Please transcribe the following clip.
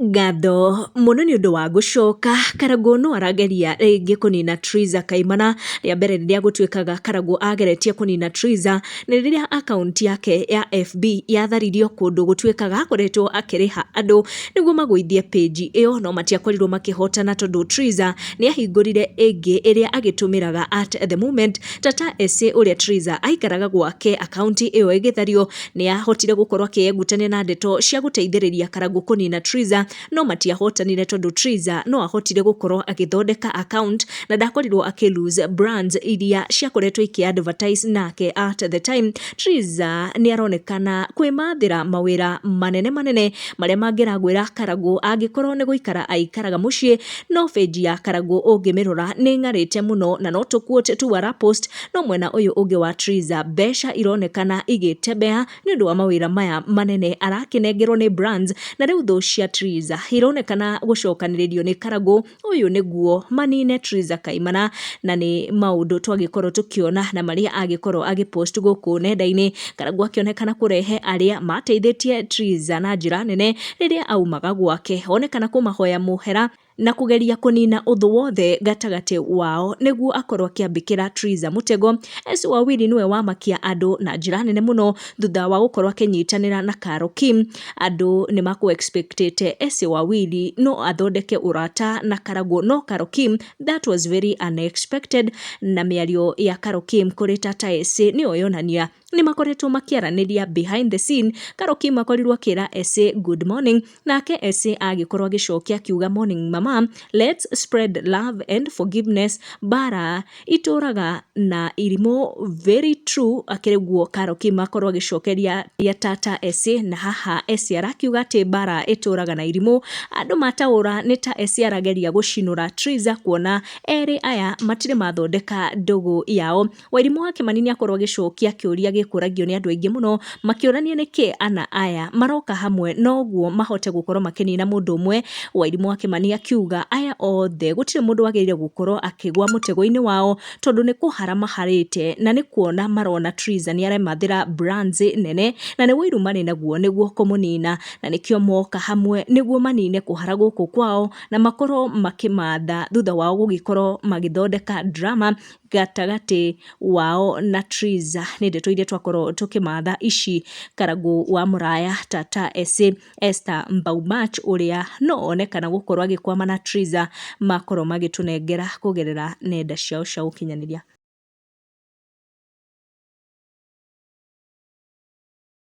Ngatho mũno nĩ ũndũ wa gũcoka. Karagũ no arageria rĩngĩ kũnina Triza Kaimana. Rĩa mbere rĩrĩa gũtuĩkaga Karagũ ageretie kũnina Triza, nĩ rĩrĩa akaunti yake ya FB yatharirio kũndũ gũtuĩkaga akoretwo akĩrĩha andũ nĩguo magũithie page ĩyo, no matiakorirwo makĩhotana tondũ Triza nĩ ahingũrire ĩngĩ ĩrĩa agĩtũmĩraga at the moment. Tata Esĩ ũrĩa Triza aikaraga gwake akaunti ĩyo ĩgĩthario. Nĩ aahotire gũkorũo akĩĩgutania na ndeto cia gũteithĩrĩria Karangũ kũniina Triza, no matiahotanire tondũ Triza no aahotire gũkorũo agĩthondeka account na ndakorirũo akĩ lose brands iria ciakoretwo ikĩ advertise nake. At the time, Triza nĩ aronekana kwĩmathĩra mawĩra manene manene marĩa mangĩragwĩra Karangũ angĩkorũo nĩ gũikara aikaraga mũciĩ. No page ya Karangũ ũngĩmĩrora nĩ ĩng'arĩte mũno na no tũ quote tu ara post, no mwena ũyũ ũngĩ wa Triza mbeca ironekana igĩtembeha nĩ ũndũ wa mawĩra maya manene arakĩnengerwo nĩ Brands na rĩu thũ cia Triza ironekana gũcokanĩrĩrio nĩ Karagũ ũyũ nĩguo manine Triza Kaimana na nĩ maũndũ twagĩkorwo tũkĩona na marĩa agĩkorwo agĩpost gũkũ nenda-inĩ Karagũ akĩonekana kũrehe arĩa mateithĩtie Triza na njĩra nene rĩrĩa aumaga gwake onekana kũmahoya mũhera na kũgeria kũnina ũthũ wothe gatagatĩ wao nĩguo akorwo akĩambĩkĩra Triza mũtego. Esũ Wawili nĩwe wamakia andũ na njĩra nene mũno thutha wa gũkorwo akĩnyitanĩra na Karo Kim. Andũ nĩ makũ expectĩte Esũ Wawili no athondeke ũrata na Karagũ no Karo Kim that was very unexpected na mĩario ya Karo Kim kũrĩ Tata Esũ nĩyo yonania nĩ makoretwo makĩaranĩria behind the scene. Karo Kim akorirwo akĩra Esũ good morning Nake Ese agĩkorwo agĩcokia akiuga morning mama let's spread love and forgiveness bara itũraga na irimũ very true akĩrĩ guo Karo Kim akorwo agĩcokeria ya tata Ese na haha Ese arakiuga atĩ bara itũraga na irimũ andũ mataũra nĩ ta Ese arageria gũcinũra Triza kuona erĩ aya matirĩ mathondeka ndũgũ yao Wairimũ wa Kĩmani nĩakorwo agĩcokia kĩũria gĩkũragio nĩ andũ aingĩ mũno makĩũrania nĩkĩ ana aya maroka hamwe noguo mahote gũkorwo makĩnina mũndũ ũmwe. Wairimũ wa Kĩmani akiuga aya othe gũtirĩ mũndũ wagĩrĩire gũkorwo akĩgwa mũtego-inĩ wao tondũ nĩ kũhara maharĩte na nĩ kuona marona Triza nĩaremathĩra brands nene na nĩ ũiru marĩ naguo nĩguo kũmũnina na nĩkĩo moka hamwe nĩguo manine kũhara gũkũ kwao na makorwo makĩmatha thutha wao gũgĩkorwo magĩthondeka drama gatagatĩ wao na Triza nĩ ndeto iria twakorwo tũkĩmatha ici Karangũ wa Mũraya Tata Ese Esther Mbaumach ũrĩa no onekana gũkorwo agĩkwama na Triza makorwo magĩtũnengera kũgerera nenda ciao cia ũkinyanĩria.